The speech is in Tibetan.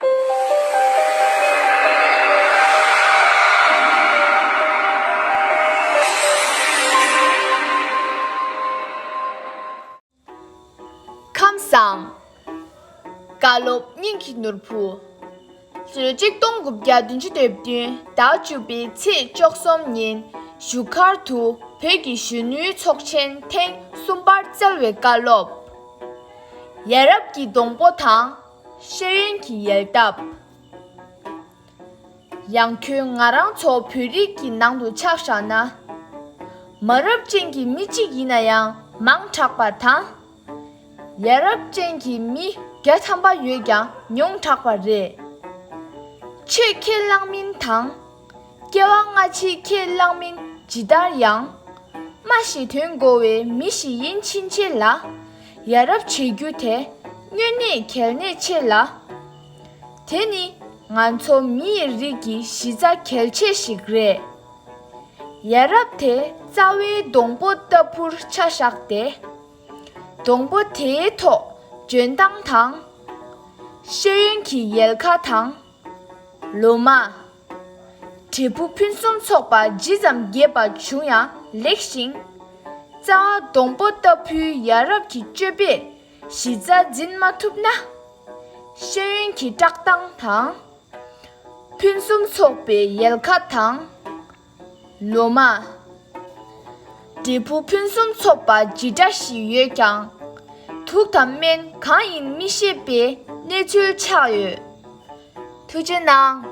ཁམས་བཟང། བཀའ་སློབ་སྙིང་གི་ནོར་བུ། གསོལ་ཅིག་སྟོང་དགུ་བརྒྱ་བདུན་ཅུ་དོན་བདུན་ཟླ་བཅུ་པའི་ཚེས་བཅོ་གསུམ་ཉིན་བཞུགས་སྒར་དུ་བོད་ཀྱི་གཞོན་ནུའི་ཚོགས་ཆེན་ཐེངས་གསུམ་པར་སྩལ་བའི་བཀའ་སློབ། ཡ་རབས་ཀྱི་སྡོང་པོ་དང། ཤེས་ཡོན་གྱི་ཡལ་འདབ། ཡང་ཁྱོད་ང་རང་ཚོ་བོད་རིགས་ཀྱི་ནང་དུ་ཆགས་བཞག་ན། མ་རབས་ཅན་གྱི་མི་གཅིག་ཡིན་ན་ཡང་མང་དྲགས་པ་དང། ཡ་རབས་ཅན་གྱི་མི་བརྒྱ་ཐམ་པ་ཡོད་ཀྱང་ཉུང་དྲགས་པ་རེད། ཆེས་ཁས་བླངས་མིན་དང། སྐྱེ་བ་སྔ་ཕྱི་ཁས་བླངས་མིན་ཇི་ལྟར་ཡང། སྨྲ་ཞེས་དོན་གོ་བའི་མི་ཞིག་ཡིན་ཕྱིན་ཆད་ལ། ཡ་རབས་བྱེད་རྒྱུ་དེ་སྨྱོན་གནས་གལ་གནད་ཆེ་ལ། དེ་ནི་ང་ཚོ་མི་ཡི་རིགས་ཀྱི་གཞི་རྩ་གལ་ཆེ་ཞིག་རེད། ཡ་རབས་དེ་རྩ་བའི་སྡོང་པོ་ལྟ་བུར་ཆ་བཞག་སྟེ། སྡོང་པོ་དེའི་ཐོག་འཇོན་ཐང་དང། ཤེས་ཡོན་གྱི་ཡལ་ག་དང། ལོ་མ། དྲིལ་བུ་ཕུན་སུམ་ཚོགས་པ་ཇི་ཙམ་རྒྱས་པ་བྱུང་ཡང་ལེགས་ཤིང། རྩ་བ་སྡོང་པོ་ལྟ་བུའི་ཡ་རབས་ཀྱི་སྤྱོད་པས་གཞི་རྩ་འཛིན་མ་ཐུབ་ན། ཤེས་ཡོན་གྱི་བཀྲག་མདངས་དང། ཕུན་སུམ་ཚོགས་པའི་ཡལ་ག་དང། ལོ་མ། འབྲས་བུ་ཕུན་སུམ་ཚོགས་པ་ཇི་འདྲ་ཞིག་ཡོད་ཀྱང། དུག་དང་སྨན་གང་ཡིན་མི་ཤེས་པའི་གནས་ཚུལ་ཆགས་ཡོད། ཐུགས་རྗེ་གནང།